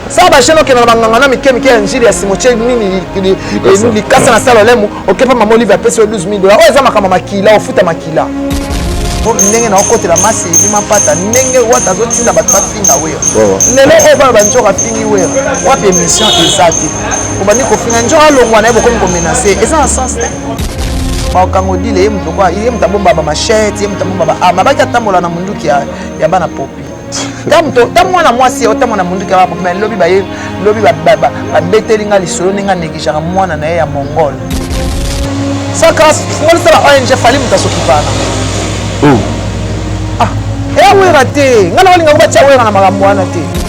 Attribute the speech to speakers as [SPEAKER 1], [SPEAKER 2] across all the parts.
[SPEAKER 1] sala bashene okenda na banganga na mike mike ya njili ya simotie nini likasa na sala olemu okepa mama olive apesi yo 12 dola oyo eza makambo makila ofuta makila po ndenge na okotela masi ebima mpata ndenge wata azotinda bato bafinga wera lelo oyo bana banzoka afingi wera wapi émission eza te obandi kofinga nzoka alongwa na ye bokomi komenase eza na sens te baokango dile ye moto ye moto abomba bamashete ye moto abomba baama baki atambola na monduki ya bana popi ta mwana mwasi otama na monduki ya bapopi lobi baye lobi babeteli nga lisolo ndenge aneglijaka mwana na ye ya mongol sakrasmonisa ba ong fali moto asokipana oh. ah, eya wera te nga nakolinga ko batya wera na makambo wana te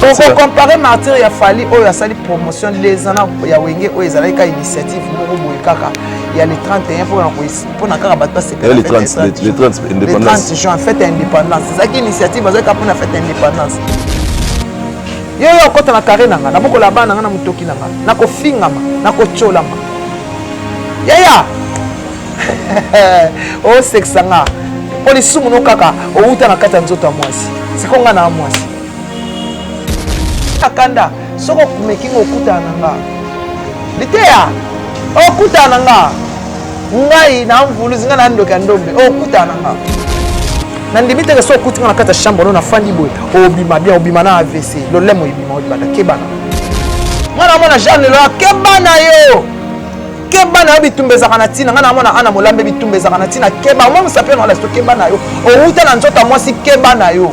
[SPEAKER 1] okokompare martire ya fali oyo asali promotion lezana ya wenge oyo ezalaki ka initiative moko boye kaka ya le 31 mpo na koyisa mpona kaka bato basepela
[SPEAKER 2] le 30 juin
[SPEAKER 1] fete ya
[SPEAKER 2] indépendance
[SPEAKER 1] ezalaki initiative azalaki kaka mpona fete ya indépendance yo yo okota na kare na nga nabokola bana na nga na motoki na nga nakofingama nakotyolama yaya osekisa oh, nga mpo lisumu no kaka owuta na kati ya nzoto ya mwasi siko nga na mwasi akanda soki okumeki nga okutana na nga liteya okutana na nga ngai na mvuluzi ngai na ndoki ya ndombe okutana na nga nandimi teke soki okuti nga na kati ya chambre no nafandi boye obima bien obima na avc lolemo ebima olibanda kebana mwana mwana jeanne loa kebana yo keba na yo bitumba ezalaka na ntina ngai namona ana molambe bitumba ezalaka na ntina keba omwa mosapi yango lasto keba na yo owuta na nzoto ya mwasi keba na yo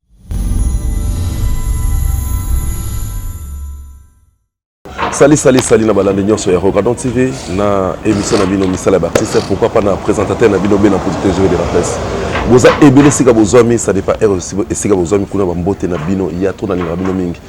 [SPEAKER 2] Salut, salut, salut na balande nyonso ya Rogadon TV na émission na bino misala ya artiste pourquoi pas na présentateur na bino bena producteur jeu de la presse boza ebele esika bozwami ça dépend heure esika bozwami kuna bambote na bino ya to nalingaka bino mingi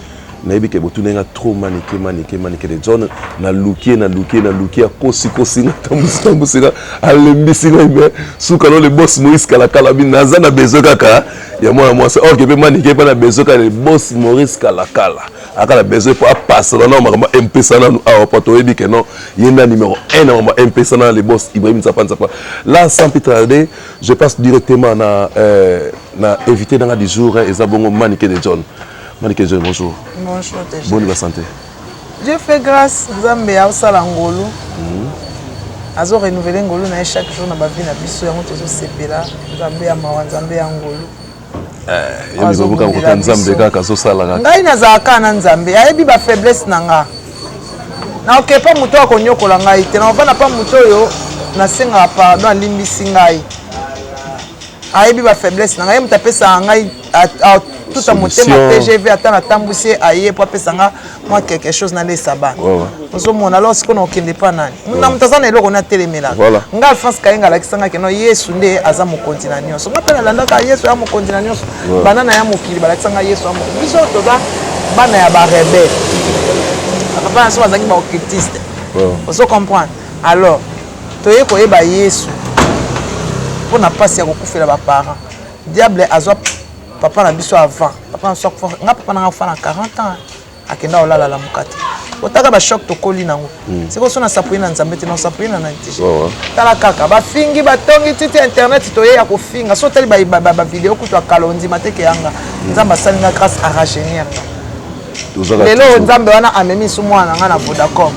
[SPEAKER 2] nayebi ke botuna nga trop manike manike manike de john naluki ye naluki ye naluki ye akosikosi nga tambusitambusi nga alembisi ngai me suka no le bos moïse kalakala bi naza na besoin kaka ya mwana mwasi orke mpe manike mpe na besoin kaka le bos maurice kalakala aka na besoin mpo apasana na makambo ya mpesa nanu awa mpo toyebi ke non ye nda numero 1 na makambo ya mpesa na le bos ibrahim nzapa nzapa la sans plus tarder je passe directement na euh, na évité nanga du jour eza bongo manike de john Manicke bonjour. Bonjour déjà. Boni
[SPEAKER 1] ba santé.
[SPEAKER 2] Dieu fait
[SPEAKER 1] grâce, Nzambe aosala ngolu. Mm. Azo renouveler ngolu na chaque jour na ba vie na biso yango tozo sepela. Nzambe ya mawa, Nzambe ya ngolu. Eh, ya
[SPEAKER 2] mibobo kaka kota Nzambe kaka azosala kaka. Ngai nazalaka na
[SPEAKER 1] Nzambe, ayebi ba faiblesse na nga. Na oke pa moto oyo akonyokola ngai te, na ovanda pa moto oyo nasengaka pardon alimbisi ngai. Ayebi ba faiblesse na ngai, ye moto apesaka ngai tuta motema tgv ata natambwisi ye aye mpo apesa nga mwa quelque chose nalesa bana ozomona alors sikoyo nakokende mpa nani na moto aza na eloko nde atelemelaka nga alphonse kayenga alakisa nga keno yesu nde aza mokonzi na nyonso nga mpe nalandaka yesu ya mokonzi na nyonso bana na ya mokili balakisa nga yesu ya mokonzi biso toza bana ya barebele papa na biso bazalaki baoccultiste ozo comprendre alors toye koyeba yesu mpo na mpasi ya kokufela baparent Diable azwa papa na biso avant. Papa na biso akufa. Nga papa na nga akufa na 40 ans. Akenda olala la mukate. Otaka ba choc tokoli nango. Mm. Siko sona sapuye na Nzambe te na sapuye na nani te. Oh, oh. Tala kaka ba fingi ba tongi titi internet toye ya kofinga. So tali ba ba, ba video kutu akalondi mateke yanga. Mm. Nzambe asali nga grâce à rajeunir. Lelo Nzambe wana amemi su mwana nga na Vodacom.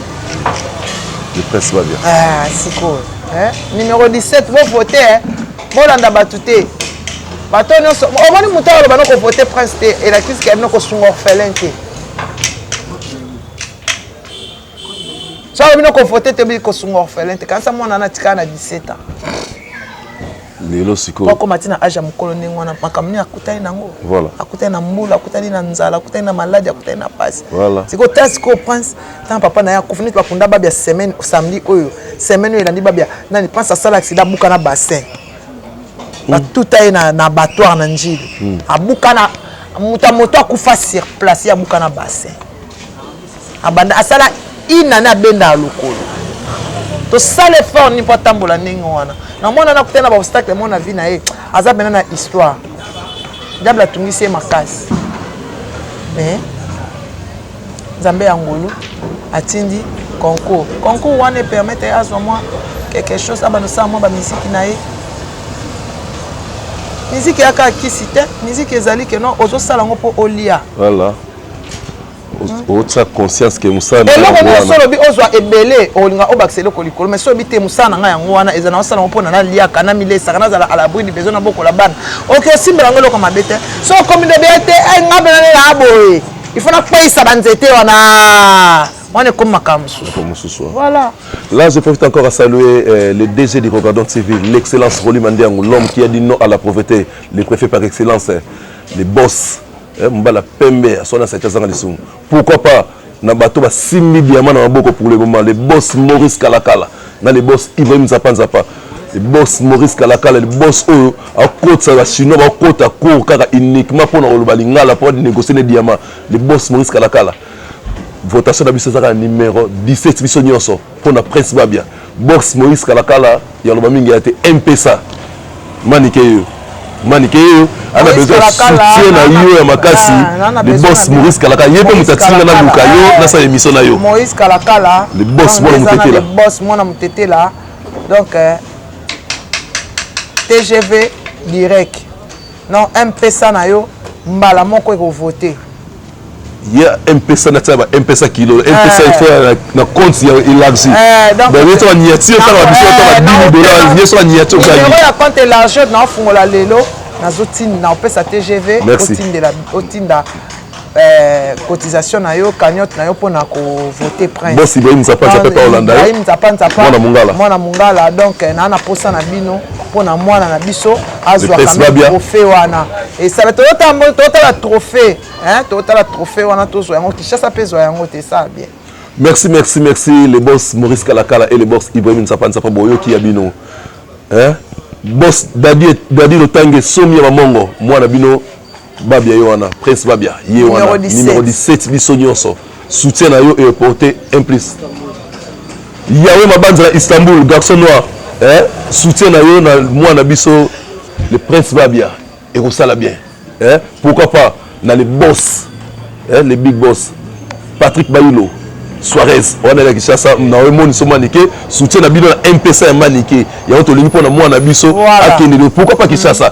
[SPEAKER 2] Le presse va bien. Ah, siko. Eh?
[SPEAKER 1] Numéro 17 bo voter. Eh? bolanda bato te bato nyonso omoni moto oyo aloba nokovote prince te elakisi ke bino kosunga orphelin te so alobi nokovote te bili kosunga orphelin te kanisa mwana wana atikala na 17 ans
[SPEAKER 2] lelo sikoyobakoma ti na age ya mokolo
[SPEAKER 1] ndenge wana makambo nini akutani nango akutani na mbula akutani na nzala akutani na maladi akutani na pasi sikoyo ta sikoyo prince ntango papa na ye akufi neti bakunda babia semaine samedi oyo semaine oyo elandi babia nani prince asala accident abuka na bassin hmm. batuta ye na, na abattoir na njili mm. abuka na moto ya moto akufa sur place ye abuka na bassin abanda asala inane abendaka lokolo tosala effort nini mpo atambola ndenge wana namona nakuta na baobstacle mo na vie na ye aza mpena na histoire diable atungisi ye makasi mais Nzambe ya ngolu atindi concours. Concours wana e permettre azwa mwa quelque chose abanda osala mwa ba musique na ye. Musique ya kaka kisi te, musique ezali que non ozosala yango mpo olia. Voilà.
[SPEAKER 2] otia hmm? conscience ke mosala na eloko nyonso olobi
[SPEAKER 1] ozwa ebele olinga obakisa eloko likolo mais so obi te mosala na ngai yango wana eza na osala yango mpo na naliaka na milesaka nazala alabri du besoin na bokola bana oke osimbela yango eloko mabe te so okomi nde beye te eh, ngai mpe nalela boye il faut nakweyisa banzete wana wana ekomi makambo mosusu mosusu voilà là je profite
[SPEAKER 2] encore à saluer euh, le DG du Rogadon TV l'excellence Rolly Mandiango l'homme qui a dit non à la pauvreté le préfet par excellence le boss eh, mbala pembe aswana asaki azanga lisumu pourquoi pas na bato basimbi diama na maboko pour le moment le boss Maurice Kalakala na le boss Ibrahim Nzapa Nzapa le boss Maurice Kalakala le boss oyo akotisa ba chinois bakota cour kaka uniquement mpo na koloba lingala mpo banégocier ne diamant le boss Maurice Kalakala votation na biso ezaka na numero 17 biso nyonso mpo na prince babia box moïse kalakala ya loba mingi ya te mpesa manike yo manike yo ana besoin soutien na yo ya makasi ah, le boss maurice kalaka ye mpe moto atinda na luka yo eh. nasala émission na yo moïse kalakala
[SPEAKER 1] le boss mwana
[SPEAKER 2] motetela boss mwana
[SPEAKER 1] motetela donc eh, tgv direct non mpesa na yo mbala moko ekovote ya
[SPEAKER 2] mpesa natia ba mpesa kilo mpesa il faut na compte ya élargie donc il faut niati au tala biso tala 10 dollars il faut la niati au tala ya compte
[SPEAKER 1] élargie na fungola lelo nazo tinda na opesa TGV otindela otinda Euh, cotisation na yo cagnotte na yo mpona kovote prince ibrahim nzapa nzapa pa
[SPEAKER 2] olanda ibrahim nzapa nzapa
[SPEAKER 1] mwana mongala donc euh, naa na mposa na bino mpo na mwana na biso azwa trophée wana esala totala trophée totala trophée wana tozwa yango kinshasa mpe ezwa yango te esala bien merci merci
[SPEAKER 2] merci le boss maurice kalakala et le boss ibrahim nsapa nsapa boyoki ya bino hein? boss dadi dadi lotange somi ya mamongo mwana bino Babia yo wana Prince Babia ye wana numéro 17 biso nyonso soutien na yo eporte un plus Yahweh Mabanza na Istanbul garçon noir eh? soutien na yo na mwana biso le Prince Babia ekosala bien eh? pourquoi pas na le boss eh? le big boss Patrick Bayulo Suarez wana ya Kinshasa na yo moni so manike soutien na bino na MPC ya manike yango tolingi mpo na mwana biso akende pourquoi pas Kinshasa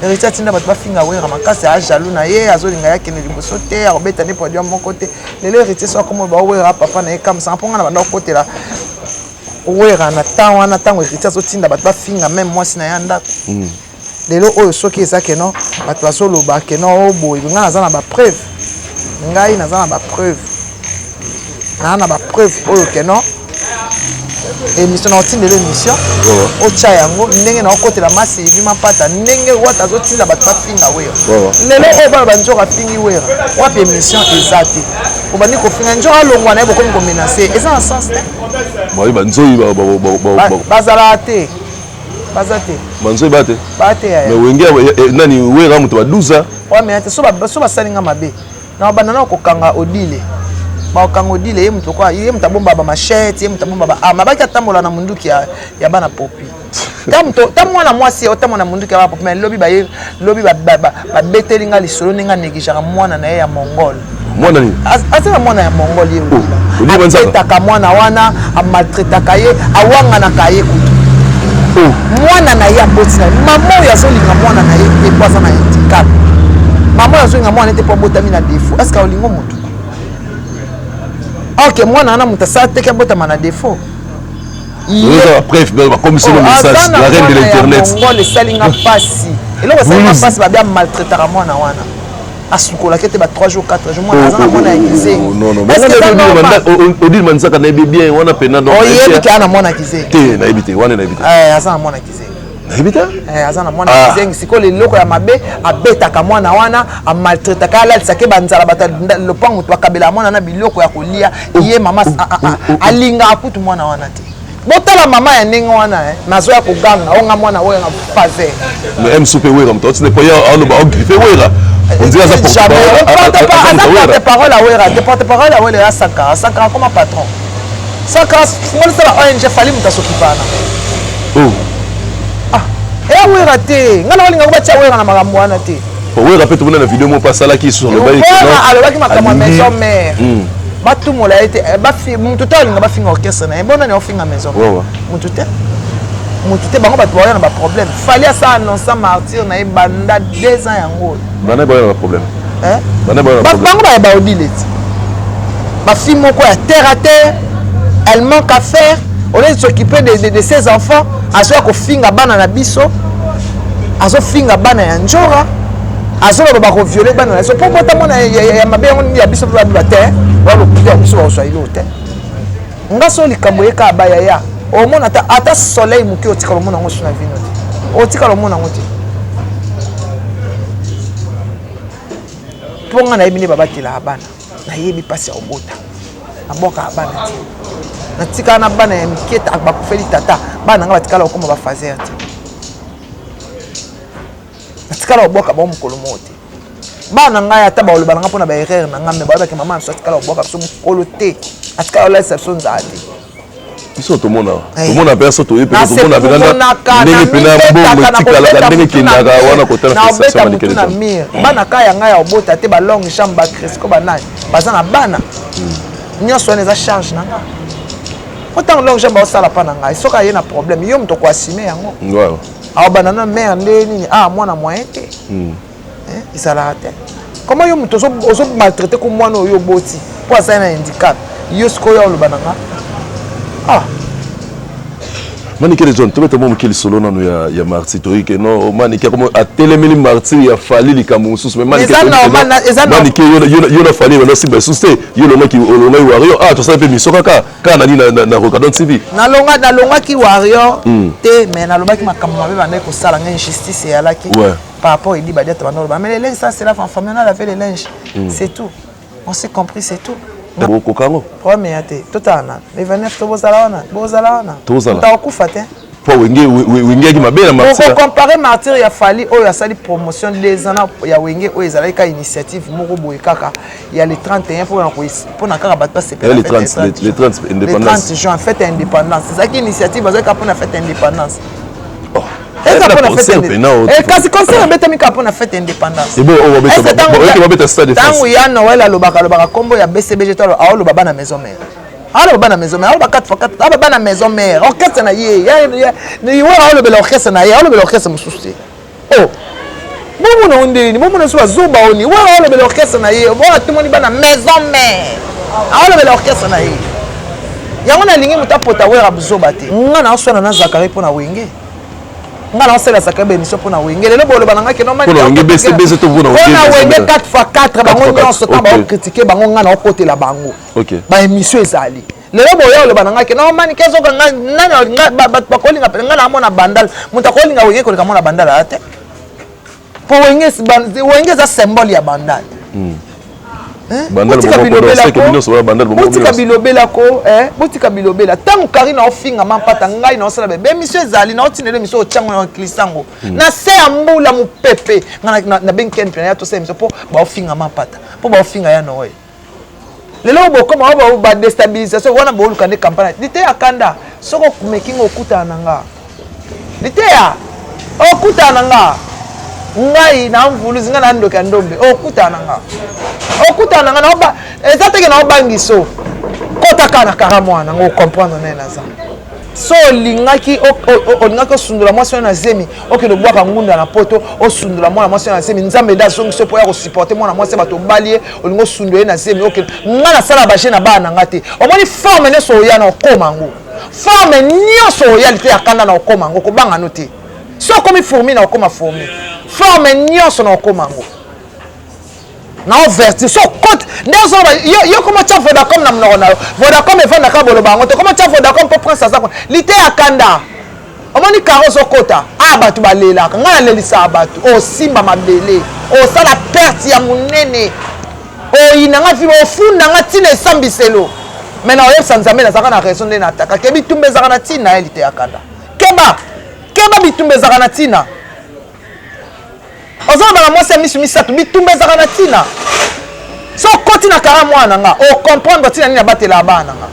[SPEAKER 1] Heritier atinda bato bafinga Werra makasi a jaloux na ye azolinga ye akende liboso te akobeta nde produit moko te lelo Heritier so akoma ba Werra papa na ye kamsanga mpo ngai na banda kokotela Werra na temps wana ntango Heritier azotinda bato bafinga meme mwasi na ye ya ndako hmm. lelo oyo soki eza keno bato bazoloba keno oboye oh, ngai naza na bapreuve ngai naza na ba preuve naa na ba preuve oyo ke non émission naotindela émission oh. otya yango ndenge naokotela masi ibima mpata ndenge wata azotinda bato bafinga wera oh. lelo oyo bana banzoka afingi wera wapi émission eza te obandi kofinga nzoka alongwa na ye bokomi komenase eza na sens te
[SPEAKER 2] bazalaka
[SPEAKER 1] te baza
[SPEAKER 2] te manzoi ba te ba te yaya mais wenge
[SPEAKER 1] eh,
[SPEAKER 2] nani wera moto ba 12 ans wa mais te so ba so
[SPEAKER 1] ba salinga mabe na banda na kokanga odile bakokanga odile ye moto kwa ye moto abomba ba machette ye moto abomba ba arme abaki atambola na munduki ya, ya bana popi ta mwana mwasi ota mwana munduki ya bana popi mais lobi baye lobi babeteli ba, ba, ba nga lisolo ndenge anegigeaka mwana na ye ya mongole mwana
[SPEAKER 2] nini aza na mwana ya mongol
[SPEAKER 1] ye obetaka
[SPEAKER 2] mwana wana
[SPEAKER 1] amaltretaka ye awanganaka ye kutu oh. mwana na ye aboti na ye mama oyo azolinga mwana na ye te po aza na handicap mama oyo azolinga mwana ye te po abotami na defaut estce olingo motu ok mwana wana moto asala teke abotama na defaut
[SPEAKER 2] bakomisi na message la reine de l'internet
[SPEAKER 1] esali nga mpasi eloko esali nga mpasi babia maltraitaka
[SPEAKER 2] mwana
[SPEAKER 1] wana asukolaki ete ba 3 jours 4 jours mwana aza na mwana ya
[SPEAKER 2] kizengiodile manzaka nayebi bien wana mpena oyebi te ana mwana
[SPEAKER 1] kizengi te nayebi te wana nayebi
[SPEAKER 2] te eh, aza na mwana kizengi
[SPEAKER 1] nayebi te
[SPEAKER 2] eh, aza na mwana ah.
[SPEAKER 1] kizengi sikoyo leloko ya mabe abetaka mwana wana amaltretaka alalisake banzala bato lopango moto bakabelaka mwana na biloko ya kolia oh, ye mama oh, oh, alingaka kutu mwana wana te botala mama ya ndenge wana eh. nazo ya koganga oyo nga mwana oyo nga faze mais mso mpe
[SPEAKER 2] wera moto atina epai aloba ogrife wera aza porte
[SPEAKER 1] parole ya wera te porte parole ya wera ya sankara sankara koma patron sankara monisa ba ong fali moto asokipana oh. ah, eya wera te ngai nakolingako batya wera na makambo wana te Werra pe tomona na
[SPEAKER 2] video moko asalaki lisusu alobaki Werra alobaki makambo
[SPEAKER 1] ya maison mère hmm. batumola ye te eh, bafi mutu te alinga bafinga orchestre na ye bona na ofinga maison mère mutu te mutu te bango bato baoya na baproblème fali asa annonça martyr na ye banda deux ans yango oyo bana baoya na baproblème
[SPEAKER 2] eh? bana baoya na baproblème bango baya baodile ti
[SPEAKER 1] bafi moko ya terre à terre elle manque à faire au lieu de s'occuper de, de, de ses enfants azoya kofinga bana na biso azofinga bana ya njora azoloba bakoviole bana na biso mpo bota mwana ya mabe yango nini ya biso mpe babiba te balokuta ya biso bakozwa ilo te nga so likambo ye kaka bayaya omona ata ata soleil moke otikala omona yango so na vino te otikala omona yango te mpo nga nayebi nde babatelaka bana nayebi mpasi ya kobota nabwakaka bana te natikala na bana ya mike bakufeli tata bana na ngai batikala kokoma bafazer te natikala kobwaka bango mokolo moko te bana na ngai ata baoloba na ngai mpo na baerreur na ngai me bayebaki mama na biso atikala kobwaka biso mokolo te atikala kolalisa biso nzala te biso
[SPEAKER 2] tomona eh. tomona mpe aso toye mpenza tomona mpenza ndenge mpena bongo etikalaka ndenge ekendaka wana kotalabeta motu na mire hmm. bana ka
[SPEAKER 1] ya ngai ya obota te balong chambre bacrisco banani baza na bana hmm. nyonso wana eza charge na ngai po ntango long chambre baosala mpa na ngai soki aye na problème yo moto koasime yango aobanda
[SPEAKER 2] na
[SPEAKER 1] mare nde nini a ah, mwana moyen te hmm. eh, ezalaka te koma yo moto ozo maltraite ko mwana oyo oboti mpo azali na handicap yo sikoyo oloba na nga ah
[SPEAKER 2] manikele john tobeta mwa moke lisolo nano ya, ya martir toyike no manike atelemeli martir ya fali likambo mosusu manike yo na fali ebanda simba lisusu te yo olongaki olongaki wario ah tosala mpe miso kaka kaka nani na rocadon tv nalongaki
[SPEAKER 1] wario hmm. te mais nalobaki makambo mabe bandaki kosala nga injustice eyalaki par rapport edi badia tabanda oloba mais le linge ça c'est là en famille on a lavé le linge mm. c'est tout on s'est compris c'est tout okoka yango
[SPEAKER 2] problème ya te
[SPEAKER 1] totala na le 29 to bozala wana bozala wana totakokufa te po
[SPEAKER 2] wengeyaki mabe na martirocompare martire ya
[SPEAKER 1] fali oyo asali promotion des ans ya wenge oyo ezalaki kaka initiative moko boye kaka ya le 31 mpona kaka bato basepele
[SPEAKER 2] 30 juin fete ya
[SPEAKER 1] indépendance ezalaki initiative azalaki kaka mpona fete ya indépendance eza mpona fetecasi concert ebetami kaka mpona fete independancentango ya noel alobaka alobaka nkombo ya bcbg to aoloba bana maison mare aloba bana maison mare aloba 4 fois 4 aloba bana maison mare orchestre na ye ye alobela orchestre na ye alobela orchestre mosusu te o oh! Bongo na onde nini? Bongo na so bazoba oni. Wa wa lobela orchestre na ye. Bo atumoni bana maison mère. Awa lobela orchestre na ye. Yango na lingi muta pota wera buzoba te. Nga na oswana na Zakari pona wenge. Nga na osela Zakari ba émission pona wenge. Lelo bo loba na nga ke non mani. Pona wenge bese bese to
[SPEAKER 2] pona wenge. Pona wenge
[SPEAKER 1] 4x4 bango nyonso ta ba critiquer bango nga na okotela bango. Ba émission ezali. lelo boya oloba na ngai ke non manike azoka ngai nani bato bakolinga mpe ngai naamona bandal moto akolinga wenge koleka mona bandal aa te mpo wenge wenge eza symbole ya bandal hmm. eh? botika bilobela ko eh? botika bilobela ntango kari na ofinga mampata ngai na osala bebe emisio ezali na otinela emisio otyango na klisango hmm. na se ya mbula mopepe ngai nabengi ken mpe na ya tosala emisio mpo baofinga mampata mpo baofinga ya noel lelo bokoma wa ba destabilisation wana boluka nde kampana liteya kanda soki okumeki nga okutana na nga liteya okutana na nga ngai na mvuluzi ngai na ndoki ya ndombe okutana na nga okutana na nga eza teke na obangiso kotaka na kara mwana ngo okomprendre naye naza so olingaki olingaki osundola mwasi wana na zemi okende obwaka ngunda na poto osundola mwana mwasi wana na zemi nzambe nde azongisi mpo ya kosupporte mwana mwasi ya bato obali ye olingi osundola ye na zemi okende ngai nasala baje na bana na ngai te omoni forme nyonso oya na okoma yango forme nyonso oya lite ya kanda na okoma yango kobanga no te so okomi fourmi na okoma fourmi forme nyonso na okoma yango na overture so cote des ora yo koma tya vodacom na monoko na yo vodacom efandaka boloba yango te koma tya vodacom mpo prince aza kuna liteya kanda omoni karo ozokota a bato balelaka ngai nalelisaka bato osimba mabele osala perte ya monene oyina ngai fiba ofunda ngai ntina esambiselo mai na oyebisa nzambe nazalaka na raison nde na ataka ke bitumba ezalaka na ntina ya liteya kanda keba keba bitumba ezalaka na ntina ozoloba na mwasi ya misu misato bitumba ezalaka na ntina so okoti na kara mwana na nga ocomprendre ntina nini abatelaka bana na nga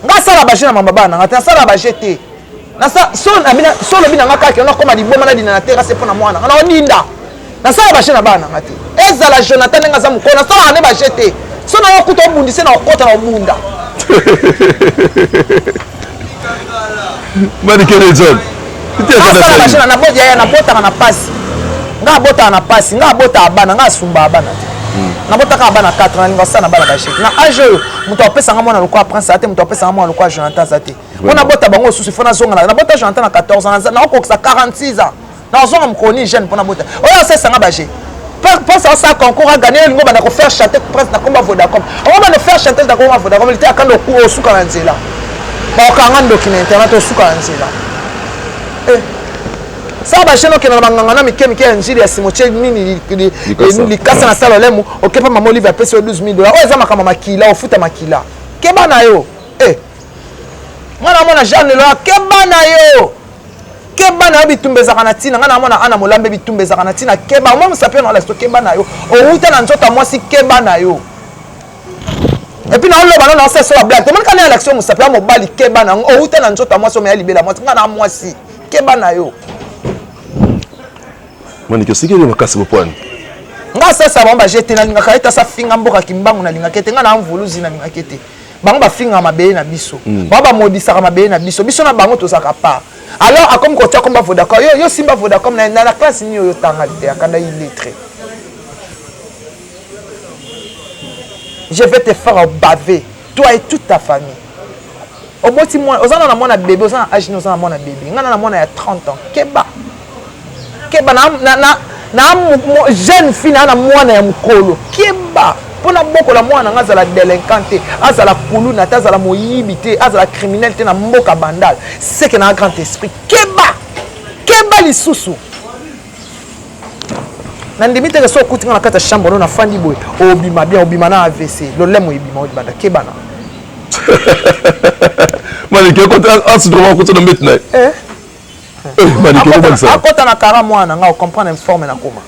[SPEAKER 1] nga asala baje na mama bana na nga te nasala baje te so olobi na nga kaka yo nakoma liboma nadina na terase mpo na mwana nga naodinda nasala baje na bana na nga te ezala jonathan ndenge aza mokolo nasalaka nde baje te so nayokuta obundise na okota na obunda
[SPEAKER 2] mani kele nzambe asala
[SPEAKER 1] bajana na bodi yaya nabotaka na pasi nga abotaka na pasi nga abotaka bana nga asumbaka bana te hmm. nabotaka bana 4 na linga sana bana basheki na age oyo moto apesanga mwana lokola prince aza te moto apesanga mwana lokola jonathan aza te mpo nabota bango osusu fo nazongana nabota jonathan na 14 ans nakokokisa 46 ans nazonga mokolo nini jeune mpona bota oyo asesanga baje prince asala concours aganye olingo banda kofaire chante prince na komba vodacom ongo banda faire chante na komba vodacom lite akanda oku osuka na nzela bakanga ndoki na internet osuka na nzela eh. sala bajene okenda na banganga na mike mike ya njili ya simotie nini likasa na sala olemu okepa mama olive apesi yo 12 dollar oyo eza makambo makila ofuta makila keba na yo eh. mwana mwana jean lelo akeba na yo keba na yo bitumba ezalaka na ntina ngai namona ana molambe bitumba ezalaka na ntina keba omwa mosapi na olasto keba na yo owuta na nzoto ya mwasi keba na yo epuis naoloba no naosa so bablage tomoni kana ya laction mosapi ya mobali keba na yango owuta na nzoto ya mwasi omeya libela mwasi ngai na mwasi keba na yo
[SPEAKER 2] manike osikeli makasi bopwani nga sasa
[SPEAKER 1] bango bajete nalingaka ete asa finga mboka kimbangu nalingaka ete nga na mvuluzi nalingaka ete bango bafingaka mabele na biso mm. bango bamodisaka mabele na biso biso na bango tozalaka part alors akomi kotia komba vodacom yo, yo simba vodacom na, na, na classe nini oyo otanga te akanda illettré je vais te faire baver toi et toute ta famille oboti mwana oza na na mwana bebe oza na age nini oza na mwana bebe ngai na na mwana ya 30 ans keba keba na, na, na, na jeune fille na na mwana ya mokolo keba mpo nabokola mwana na ngai azala delinquant te azala kuluna te azala moyibi te azala criminel te na mboka bandal seke na grand esprit keba keba lisusu nandimi teke so okuti nga na kati ya chambre no nafandi boye obima bien obima na avc lolemo ebima olibanda kebana
[SPEAKER 2] maliki akota asudroma akota na mbeti na ye eh? Eh, akota na kara mwana nga
[SPEAKER 1] ocomprendre informe na koma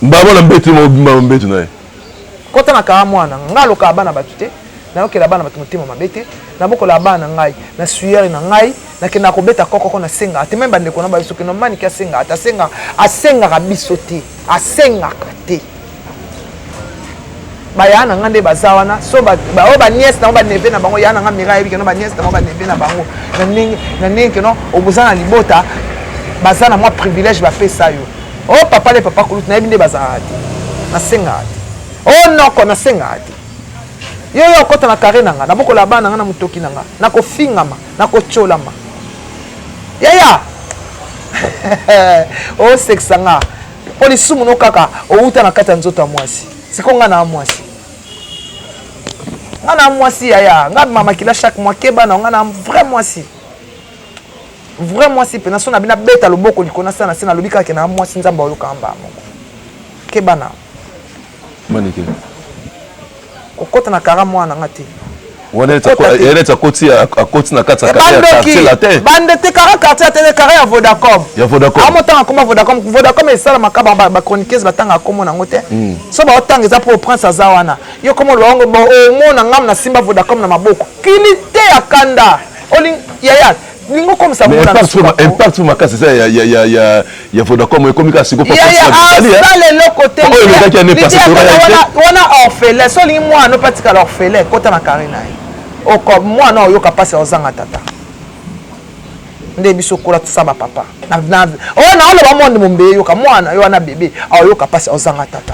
[SPEAKER 1] mbabo
[SPEAKER 2] na mbeti mobimba na mbeti na ye kota na
[SPEAKER 1] kara mwana nga alokaka bana bato te nayokela bana bato motema mabe te nabokolaka bana na ngai na suyere na ngai nakendaka kobeta kokoko nasengaka te meme bandeko na bayo soki nomaniki asengaka te asengaka asengaka biso te asengaka te baya na nga nde baza wana so baoyo baniese nango baneve na bango ya na nga mira ayebi keno baniese nango baneve na bango na ndenge keno oboza na libota baza na mwa privilège bapesa yo o oh, papa le papa kulutu nayebi nde bazalaka te nasengaka te o oh, noko nasengaka te yo yo okota na kare na nga nabokola bana na nga na motoki na nga nakofingama nakotyolama yaya osekisa oh, nga mpo lisumu no kaka owuta na kati ya nzoto ya mwasi siko ngai na mwasi ngai na mwasi yaya ngai abima makila chaque mois keba na ngai na vrai mwasi vrai mwasi mpenza so na bino abeta loboko likolo nasala na se nalobi kaka ke na mwasi nzambe ayokaka mbala moko keba na manike okota na kara mwana nga te
[SPEAKER 2] akoti na kati bande te kara
[SPEAKER 1] quartier atene kara ya vodacom amotanga akoma vodacom vodacom esalamaka bachroniqueuse batanga akomo nango te hmm. so baotanga eza mpo prince aza wana yo komo oloba yango omona ngam nasimba vodacom na maboko kilite ya kanda yaya lingo komisa impact
[SPEAKER 2] fo makasi eza ya vodacom ekomi kaka sikoasala eloko
[SPEAKER 1] te wana orphelin so olingi mwana ope atikala orphelin kota na kare na ye oko mwana oyoka mpasi ya ozanga tata nde biso kola tosa bapapa oyo naoloba monde mombe eyoka mwana yo wana bebe aoyoka mpasi ozanga tata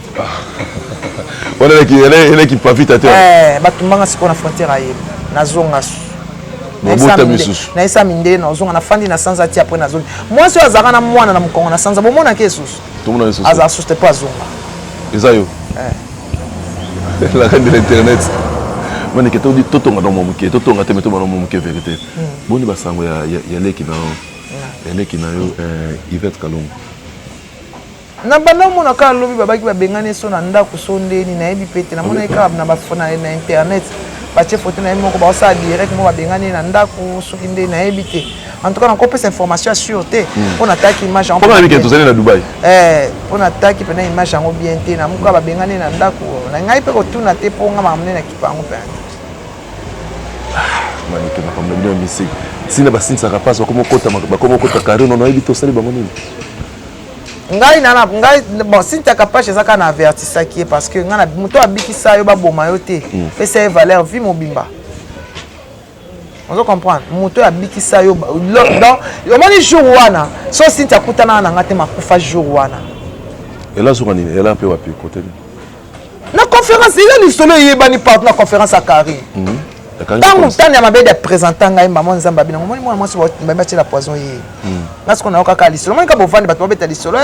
[SPEAKER 2] wana eleki pavita te eh, batumbanga sikoyo na frontière
[SPEAKER 1] aye nazonga mabota misusu nayesa mindele nazonga nafandi na sanza ti apres nazongi mwasi oyo azalaka na mwana na mokongo na sanza bomonaki esusu azala susu
[SPEAKER 2] te mpo azonga
[SPEAKER 1] eza yo
[SPEAKER 2] eh. la reine de l'internet manike todi totonga na mwa moke totonga te me tobana mwa moke verité hmm. boni basango ya leki na yo ya leki na yo eh, ivette kalongo
[SPEAKER 1] Na banda omona kaka lobi babaki babengani so na ndako so ndeni nayebi pe te namonaki kaka na, na, na internet batie foto na ye moko baosala direct moko babengani ye na ndako soki nde nayebi te en tout cas nakopesa information ya sur te hmm. mpo nataki image yango tozali na dubai
[SPEAKER 2] eh, mpo nataki
[SPEAKER 1] mpena image yango bien te na moka babengani ye na ndako na ngai mpe kotuna te mpo nga makambo nde na kipa yango mpenza
[SPEAKER 2] manike makambo na bino ya misiki ntina basinisaka mpasi bakomokota kari nono oyebi te osali bango nini ngai nana
[SPEAKER 1] ngai bon Cynthia Kapash eza kaka na avertisaki ye parce que ngai na moto abikisa yo baboma yo te mm. pesa ye valeur vie mobimba ozo comprendre moto oyo abikisa yo donc omoni jour wana so Cynthia akutanaka na ngai te makufa jour wana ela azoka
[SPEAKER 2] nini ela mpe wapi kote nini na
[SPEAKER 1] conférence eza lisolo eyebani partout na conférence ya carré mhm. ntango ntani ya mabedi apresenta ngai mama nzambe abina omoni mwana mwasi bambi atyela poison ye mhm. nga siko nayoka kaka lisolo omoni kaka bovandi bato babeta lisolo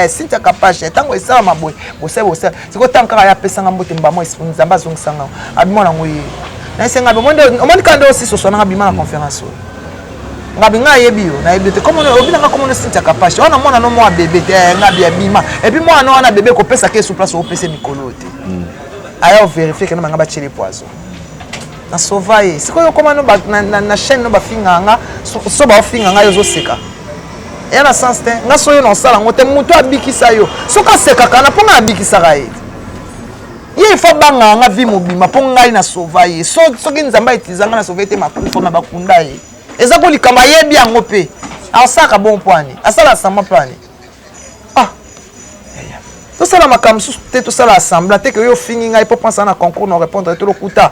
[SPEAKER 1] sintia eh, kapashe ntango esalama boye bosali bosali sikoyo ntango kaka ye apesanga mbote mbamo nzambe azongisanga abi mwana yango ye nayesenga omoni kaka nde osisi oswananga bima na conférence oyo ngabi ngai ayebi yo nayebi yo te komono obi nanga komono sintia kapasha wana mwana no mwa bebe te eh, ngabi abima epi mwana no wana bebe kopesa ke su place opesa mikolo yo te hmm. aya overifie kena banga batyele poison nasova ye sikoyo okoma no na chaîne no bafinga nga so baofinga ngai ozoseka eya na sens te nga soyo na osala yango te moto abikisa yo soki asekaka na mpo ngai abikisaka ye ye ifo abangaka nga vie mobima mpo ngai na sova ye so, soki nzambe aitiza ngai na sova ye te makufa ma bakunda ye eza ko likambo ayebi yango mpe asalaka bon mpo ani asala asamba mpo ani ah. tosala makambo mosusu te tosala assembla te ke yo ofingi ngai mpo mpensa na concours na répondre te lokuta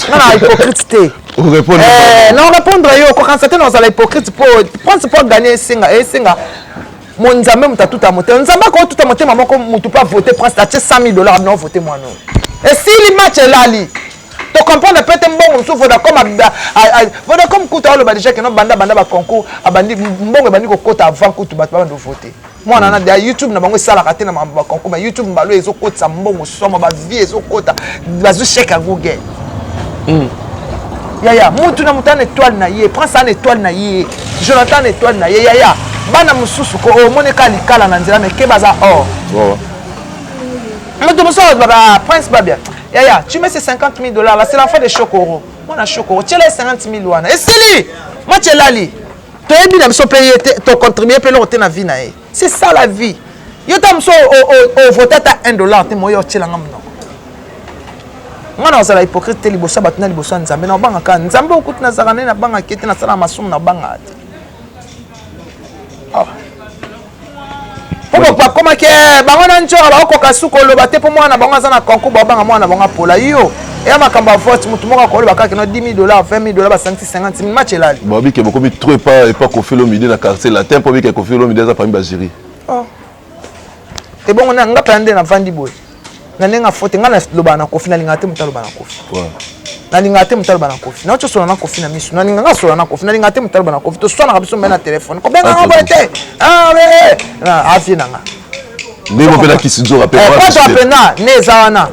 [SPEAKER 1] nga na hypocrite te eh, na répondre yo kokanisa te na ozala hypocrite mpo prince mpo aganye esenga esenga Mon Nzambe moto atuta motema. Nzambe akoki tuta motema moko moto mpe avote prince atie 100 000 dollars abino avote mwana oyo. Esili match elali. To comprendre peut être mbongo mosusu Vodacom Vodacom kutu aoloba déjà que no banda banda ba concours abandi mbongo ebandi kokota avant kutu bato babanda ovote. mwana na deya youtube na bango esalaka te na makambo bakonko ma youtube mbalo ezokotisa mbongo somo bavie ezokota bazwi cheke ya google mm. yaya mutu na mutu ana etoile na ye prince ana etoile na ye jonathan ana etoile na ye yaya bana mosusu ko omoneka likala na nzela meke baza or oh. moto mosusu alobaka ah, prince babia yaya tu mets ces 50 000 dollars là c'est l'enfant de chokoro mwana chokoro tiela ye 50 000 wana esili match elali toyebi na biso mpe ye te tocontribue mpe eloko te na vie na ye c'est ça la vie yo ta mosu ovota ata 1 dollar te moyo otyelanga monoko nga na ozala hypocrite te liboso ya bato na liboso ya nzambe na obanga kaka nzambe okuti nazalaka nde nabangaki ete nasalaka masumu na obangaka te ah. po bakomaki eh, bango na njora bakokoka suka oloba te mpo mwana na bango aza na concour baobanga mwana na bango apola yo eya makambo ya vote motu moko akoloba kaka no 10 dollars 20 dollars basangisi 50 mil match elali babike bokomi trop epa
[SPEAKER 2] epa kofilo midi na quartier latin mpo bike kofilo midi aza parmi bajiri oh.
[SPEAKER 1] ebongo na nga pena nde navandi boye na ndenge afote ngai nalobaka na kofi nalingaka te moto aloba na kofi nalingaka te moto aloba na kofi nauti osola na kofi na miso nalingaka asola na kofi nalingaka te moto aloba na kofi toswanaka biso mbe na telefone kobenga ngo boye te avie na nga ndenge mpe
[SPEAKER 2] na kisidzoka mpe eh, ne
[SPEAKER 1] eza wana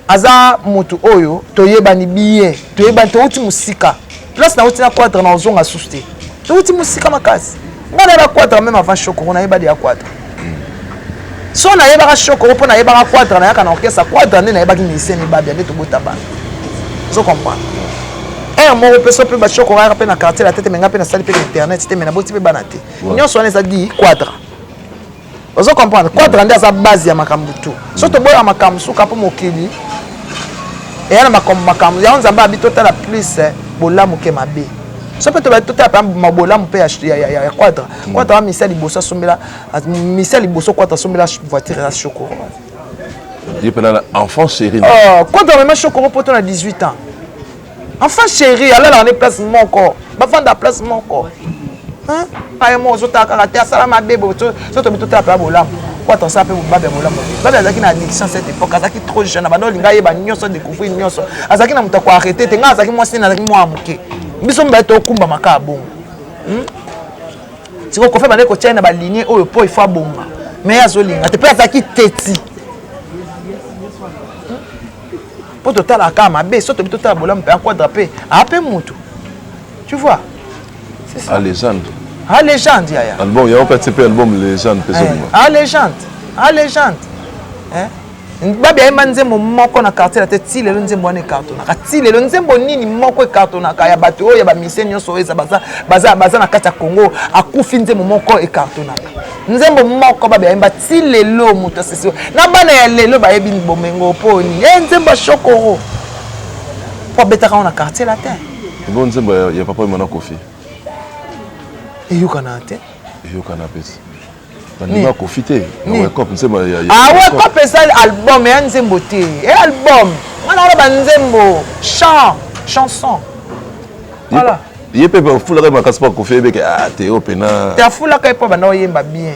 [SPEAKER 1] aza moto oyo toyebani bien toyebani towuti mosika place nawuti na quadre na ozonga susu te towuti mosika makasi ngai nayeba quadre meme avant shokoro nayeba deya quadre so nayebaka shokoro mpo nayebaka quadre nayaka na orchestre quadre nde nayebaki musicien mibabia nde tobota bana ozo comprendre heure moko mpe so mpe bashokoro ayaka mpe na quartier la tete me ngai mpe nasali mpe na internet te me naboti mpe bana te nyonso wana eza di quadre ozo comprendre quadra nde aza base ya makambo tu so toboya makambo suka mpo mokili eya na makambo makambo yango nzambe abi totala plus eh, bolamu ke mabe so mpe tobali totala mpe mabolamu mpe ya quadra quadra misia liboso asombela misia liboso quadra asombela voiture ya shokoro
[SPEAKER 2] ye mpe na enfant série quadra mema shokoro
[SPEAKER 1] poto na 18 ans enfin chéri alalaka nde place moko bafanda place moko aye moko ozotala kaka te asala mabe sotobi totala mpe ya bolamu po ata osala mpe bobabe ya bolamu babe azalaki na addiction cette époque azalaki trop jeune abanda olinga ayeba nyonso découvrir nyonso azalaki na moto ya koarrete te ngai azalaki mwasi nini azalaki mwana moke biso mibale tokumbama kaka bongo hmm? sikoyo kofi abandaki kotyai na balinie oyo mpo ifo abonga me azolinga te mpe azalaki teti mpo totalaka kaka mabe so tobi totala bolamu mpe aquadra mpe ape motu tu vois a légende a
[SPEAKER 2] légende
[SPEAKER 1] yaya album yango kati mpe
[SPEAKER 2] album légende mpe ezobima a légende
[SPEAKER 1] a légende babi ayemba nzembo moko na quartier na te ti lelo nzembo wana ekartonaka ti lelo nzembo nini moko ekartonaka ya bato oyo ya bamisie nyonso oyo baza na kati ya congo akufi nzembo moko ekartonaka nzembo moko babe ayemba ti lelo moto asisi na bana ya lelo bayebi bomengo mpo nini e nzembo ya shokoro mpo abetaka ngo na quartier latin yango nzembo
[SPEAKER 2] ya papa emana kofi eyokana
[SPEAKER 1] te eyokana pesi
[SPEAKER 2] bandima kofi te wekop nzembo wekop ezali
[SPEAKER 1] album ya nzembo te e album wana wana banzembo chant chanson voilà ye mpe
[SPEAKER 2] afulaka ye makasi mpo akufi yebeke ah, te yo mpe na te afulaka ye mpo abanda
[SPEAKER 1] oyemba bien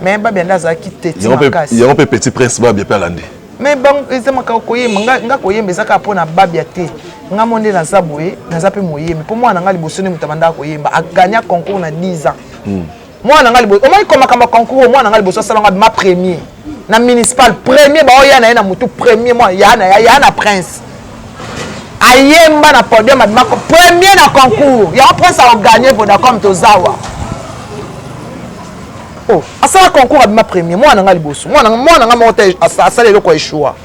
[SPEAKER 1] mais babia nde azalaki teti makasi yango mpe petit
[SPEAKER 2] prince babia mpe alandi mais eza
[SPEAKER 1] makambo koyemba nga koyemba eza kaka mpo na babia te nga mo nde naza boye naza mpe moyembi mpo mwana na nga liboso nde moto abandaka koyemba agagna concours na 10 ans hmm. mwana ngai liboso omoni ko makambo ya concours mwana ngai liboso asala ngai ma premier na municipal premier baoya na ye na motu premier mwana ya na ya na prince ayemba na podium abima premier na concours yango prince aoganye vodacom tozawa o oh, asala concours abima premier mwana ngai liboso mwana ngai moko te asala eloko ya echoua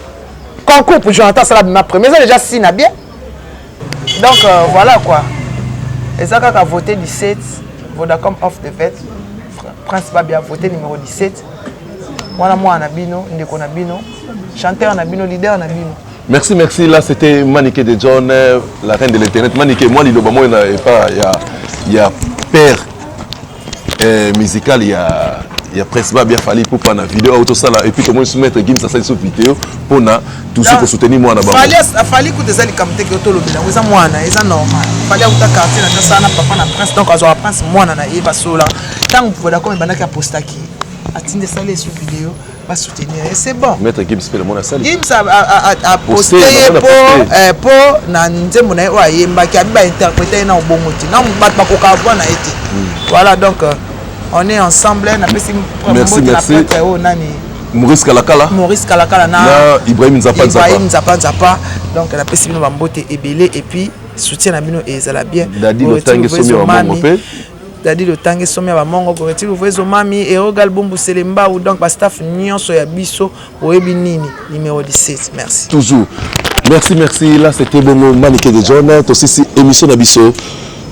[SPEAKER 1] concours pour jonathan asala abima premier eza dejà sina bien Donc euh, voilà quoi. Eza kaka voter 17 Vodacom off the vet. Prince Babi a voté numéro 17. Mwana mwana na bino, ndeko na bino, chanteur na bino, leader na bino. Merci, merci. Là,
[SPEAKER 2] c'était Manike de John, euh, la reine de l'Internet. Manike, moi, liloba moi, il n'y a pas, il y a, il y a père eh, musical ya ya presse ba bien fallait pour na vidéo auto sala et puis comment se mettre Gims asali sur vidéo pour na tout ce pour soutenir moi na bango fallait fallait que des
[SPEAKER 1] alikam te que to lobela eza mwana eza normal fallait auta quartier na ça na papa na prince donc azo prince mwana na ye basola tangu voilà comme banaka postaki atinde sala sur vidéo ba soutenir ye c'est bon maître Gims pe le mona sali
[SPEAKER 2] Gims a, a, a, a
[SPEAKER 1] posté ye po eh, po na nzembo na ye oyo ayembaki abi ba interpréter ye na obongo te na bato bakoka avoir na ye te hmm. voilà donc euh, on est ensemble na pesi merci merci na
[SPEAKER 2] oyo nani Maurice Kalakala Maurice Kalakala na, na Ibrahim Nzapa Nzapa Ibrahim Nzapa Nzapa
[SPEAKER 1] donc na pesi bino ba mbote ebele et puis soutien na bino ezala bien dadi lotangi somi
[SPEAKER 2] wa mongo pe Daddy Lotange
[SPEAKER 1] somi ya bamongo Goreti Luvuezo Mami Erogal Bumbu Selembau donc ba staff nyonso ya biso boyebi nini numéro 17 merci toujours
[SPEAKER 2] merci merci là c'était bongo Manike de John tosisi émission na biso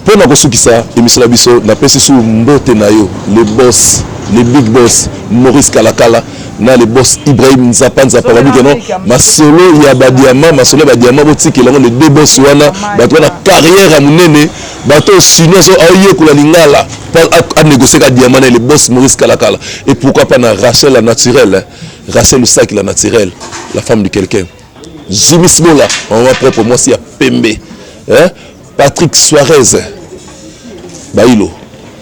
[SPEAKER 2] mpo na kosukisa émission na biso napesi su mbote na yo le boss le big boss Maurice Kalakala na le boss Ibrahim Nzapa Nzapa babi keno masolo ya badiama masolo ya badiama botikela yango le deux boss wana bato wana carrière ya monene bato oyo chinois so aoyekola lingala anegocie ka diamant na le boss maurice kalakala et pourquoi pas na rachel la naturelle rachel lusaki la naturelle la femme de quelqu'un zumis bola mama propre mwasi ya pembe patrick suarez bailo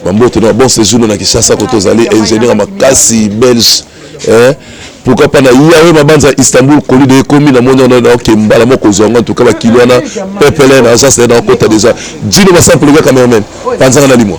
[SPEAKER 2] bambote na bon séjour na kinshasa koto ozali ingénieur ya makasi belge Eh, pourquoi pas na yawe mabanza Istanbul colis de ekomi na moni wana na ke mbala moko zwa ngo tuka ba kilo wana pepele na za se na kota déjà Gino ba sample ga cameraman panzanga na limwa